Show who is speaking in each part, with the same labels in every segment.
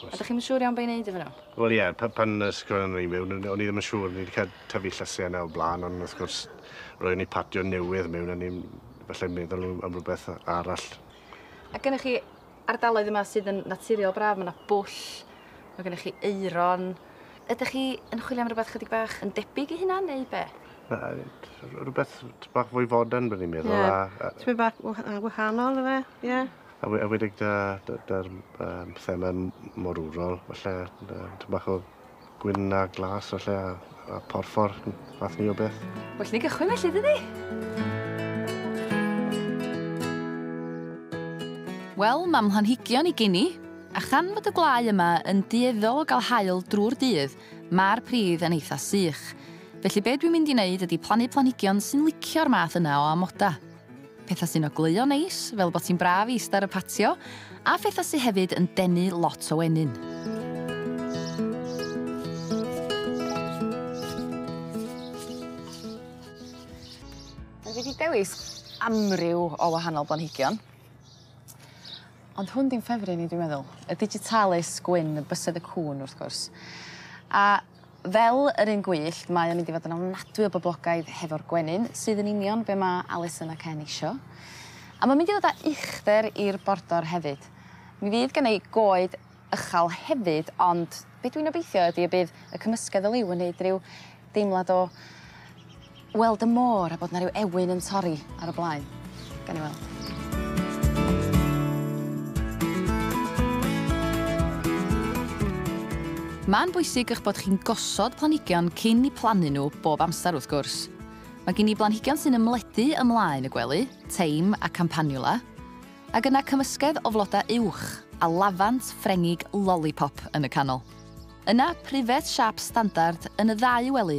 Speaker 1: A dych chi'm yn siŵr iawn be' i neud efo nhw? Wel ie, pa- pan nes
Speaker 2: i nhw i mewn, o'n i ddim yn siŵr, ni wedi cael tyfu llysiau yna o'r blaen, ond wrth gwrs, roeddwn ni patio newydd mewn, o'n i'n falle meddwl am rhywbeth arall. A gennych
Speaker 1: chi ardaloedd yma sydd yn naturiol braf, mae yna bwll, mae gennych chi aeron. Ydych chi yn chwilio am rhywbeth chydig bach yn debyg i hynna, neu be'? Na,
Speaker 2: rhywbeth bach fwy fodern, byddwn i'n meddwl. Ie, tipyn bach
Speaker 3: wahanol, ife? Ie. A we- a wedig 'da
Speaker 2: 'da 'da'r yym thema'n m- morwrol falle yy tym bach o gwyn a glas falle a a porffor m- fath 'ny o beth. Well ni gychwyn felly
Speaker 1: dydi? Wel, ma' mhlanhigion i geni, a chan fod y gwlâu yma yn dueddol o ga'l haul drw'r dydd, ma'r pridd yn eitha sych. Felly be' dwi'n mynd i neud ydi plannu planhigion sy'n licio'r math yna o amoda. pethau sy'n ogleuo neis, fel bod ti'n braf i eistedd ar y patio, a phethau sydd hefyd yn denu lot o wenyn. Dwi wedi dewis amryw o wahanol blanhigion. Ond hwn di'n ffefryn i dwi'n meddwl, y digitalis gwyn, y bysedd y cŵn wrth gwrs. A Fel yr un gwyllt mae o'n mynd i fod yn ofnadwy o boblogaidd hefo'r gwenyn sydd yn union be' ma' Alison a Ken isio. A ma'n mynd i ddod â uchder i'r bordor hefyd. Mi fydd gen i goed ychal hefyd ond be' dwi'n obeithio ydi y bydd y cymysgedd o liw yn neud ryw deimlad o weld y môr a bod 'na ryw ewyn yn torri ar y blaen. Gawn ni weld. Ma'n bwysig eich bod chi'n gosod planhigion cyn i plannu nhw bob amser wrth gwrs. Mae gen i blanhigion sy'n ymledu ymlaen y gwely, teim a campanula, ac yna cymysgedd o flodau uwch a lafant Ffrengig lollipop yn y canol. Yna pryfed siâp standard yn y ddau wely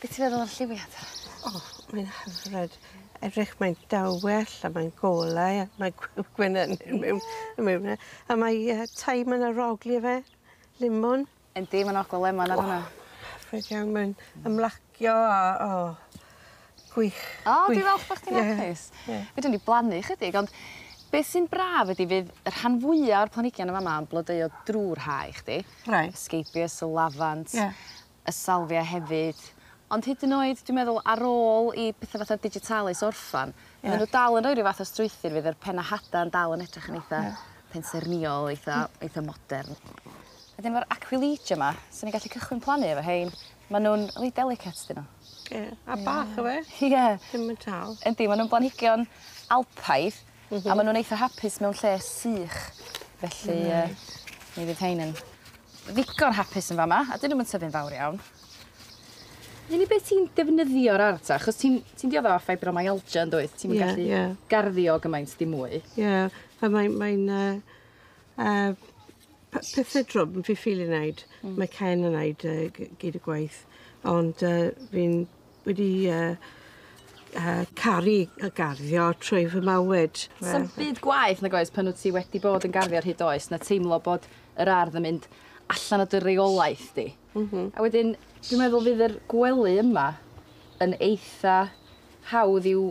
Speaker 3: Be' ti feddwl o'r
Speaker 1: lliwiad? O mae'n
Speaker 3: hyfryd. Edrych mae'n dawel a mae'n golau a mae gw- gwenyn mewn y mewn e. A mae yy thyme yn arogli efe. Limon. Yndi ma'n ogla
Speaker 1: lemon ar hwnna. O hyfryd iawn mae'n
Speaker 3: ymlacio a o gwych. O dwi
Speaker 1: falch bo' chdi'n apus. Ie ie. Fedrwn ni blannu chydig ond beth sy'n braf ydi fydd y rhan fwya o'r planhigion yn fa' 'ma yn blodeuo drw'r Ha i chdi. Reit. Scabious y lafant. Ie. y salvia hefyd ond hyd yn oed dwi'n meddwl ar ôl i petha fatha digitalis orffan... Ie. ...ma' n'w dal yn roi ryw fath o strwythur fydd yr penna hada yn dal yn edrych yn eitha... Ie. ...pensaernïol eitha eitha modern. Wedyn ma'r aquilegia 'ma swn i'n gallu cychwyn plannu efo rhein ma' nw'n reit delicate 'dyn n'w. Ie a bach
Speaker 3: yfe? Ie. Ddim yn
Speaker 1: tal.
Speaker 3: Yndi ma' nw'n blanhigion
Speaker 1: alpaidd A ma' nw'n eitha hapus mewn lle sych felly yy mi fydd rhein yn ddigon hapus yn fa' 'ma a 'dyn nw'm yn tyfu'n fawr iawn. Yr unig beth sy'n defnyddio'r ardd ta achos ti'n ti'n diodde' o fibromyalgia yndwyt? Ti'm yn gallu... Ie ie. ...garddio gymaint ddim mwy. Ie a mae'n
Speaker 3: mae'n yy yy p- pethe drwg fi ffili neud. Hmm. Mae Ken yn neud yy gy- gyd y gwaith ond yy fi'n wedi yy yy caru yy garddio trwy fy mywyd. Ie. Sa'm byd gwaeth
Speaker 1: nag oes pan wt ti wedi bod yn garddio ar hyd oes na teimlo bod yr ardd yn mynd allan o dy reolaeth di. M-hm. A wedyn dwi meddwl fydd yr gwely yma yn eitha hawdd i'w